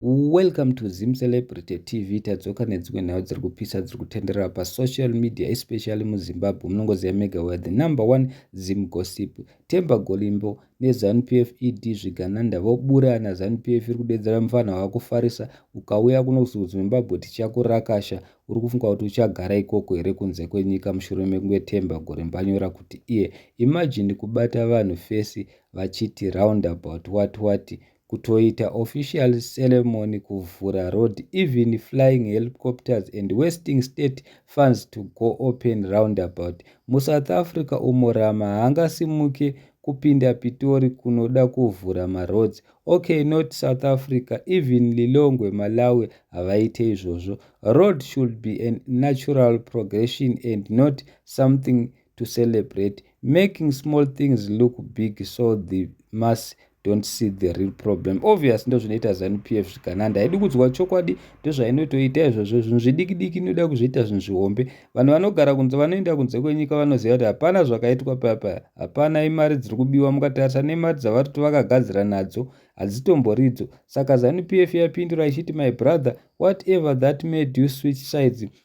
Welcome to Zim Celebrity TV. Tadzoka nedzimwe nhau dziri kupisa dziri kutenderera pa social media especially mu Zimbabwe. Munongoziva mega we the number one Zim gossip. Temba Golimbo ne Zanu PF ED zvigananda vobura na Zanu PF iri kudedzera mfana wakufarisa ukauya kuno ku Zimbabwe tichakurakasha. Uri kufunga kuti uchagara ikoko here kunze kwenyika mushure mekunge Temba Golimbo anyora kuti iye imagine kubata vanhu face vachiti roundabout what what, what kutoita official ceremony kuvhura road even flying helicopters and wasting state funds to go open roundabout musouth africa umo rama haangasimuke kupinda pitori kunoda kuvhura maroads okay not south africa even lilongwe malawi havaite izvozvo road should be a natural progression and not something to celebrate making small things look big so the mass don't see the real problem obvious ndo zvinoita zanu p f zvikananda haidi kudzwa chokwadi ndozvainotoita izvozvo zvinhu zvidikidiki inoda kuzviita zvinhu zvihombe vanhu vanogara kunze vanoenda kunze kwenyika vanoziva kuti hapana zvakaitwa payapaya hapana imari dziri kubiwa mukatarisa nemari dzavari kuti vakagadzira nadzo hadzitomboridzo saka zanu p f yapindura ichiti my brother whatever that made you switch sides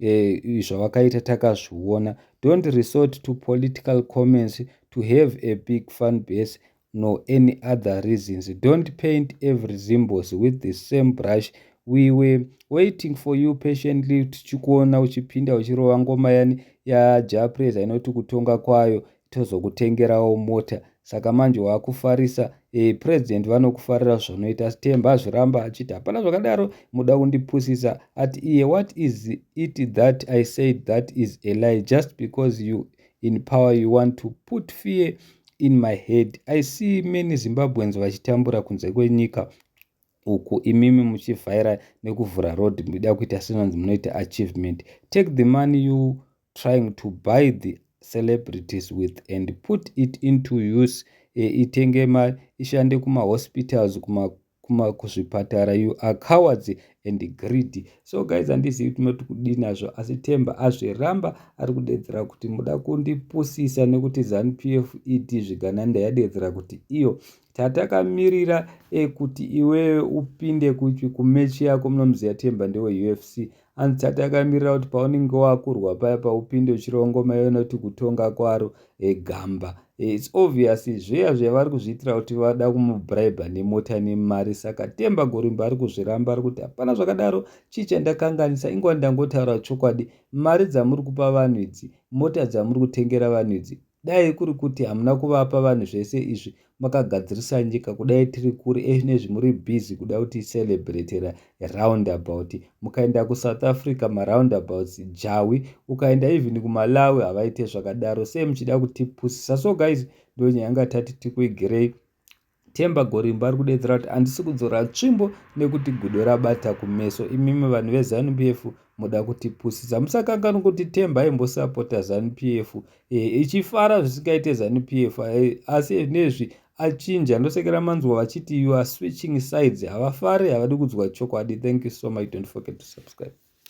eh, zvavakaita takazviona don't resort to political comments to have a big fan base nor any other reasons don't paint every zimbos with the same brush we were waiting for you patiently tichikuona uchipinda uchirova ngoma yani yajapresa inoti kutonga kwayo tozokutengerawo mota saka manje wakufarisa e, president vanokufarira zvanoita stemba azviramba achiti hapana zvakadaro muda kundipusisa at iye what is it that i said that is a lie just because you in power you want to put fear in my head i see many zimbabweans vachitambura kunze kwenyika uku imimi muchivhaira nekuvhura road muchida kuita senanzi munoita achievement take the money you trying to buy the celebrities with and put it into use e, itenge ma ishande kumahospitals kuma kuma kuzvipatara you are cowards and greedy so guys handizivi tinoti kudii nazvo asi temba azviramba ari kudedzera kuti muda kundipusisa nekuti zanupf ed zvigananda yadedzera kuti iyo Chatakamirira e kuti iwewe upinde kupi kumechi yako muna muziyatemba ndewe ufc and chatakamirira kuti paunenge wakurwa paya paupinde uchirongoma iwe noti kutonga kwaro e gamba e, its obvious zveya zveya vari kuzviitira kuti vada kumubribe nemota nemari saka temba gorimba ari kuzviramba ari kuti hapana zvakadaro chii chandakanganisa ingwa ndangotaura chokwadi mari dzamuri kupa vanhu idzi mota dzamuri kutengera vanhu idzi Dai kuri kuti hamuna kuvapa vanhu zvese izvi makagadzirisa nyika kudai tiri kuri ezvinezvi muri busy kuda kuti celebratera roundabout mukaenda kusouth africa maroundabouts jawi ukaenda even kumalawi havaite zvakadaro sei muchida kutipusisa so guys ndonyaya yanga tati tikuigerei Themba Gorimbo ari kudedzera kuti handisi kudzora tsvimbo nekuti gudo rabata kumeso imimi vanhu veZanu PF moda kutipusisa musakanganwe kuti Themba aimbosapota Zanu PF e, ichifara zvisingaite Zanu PF e, asi nezvi achinja ndosekera manzwa vachiti you are switching sides havafari havadi kudzwa chokwadi thank you so much don't forget to subscribe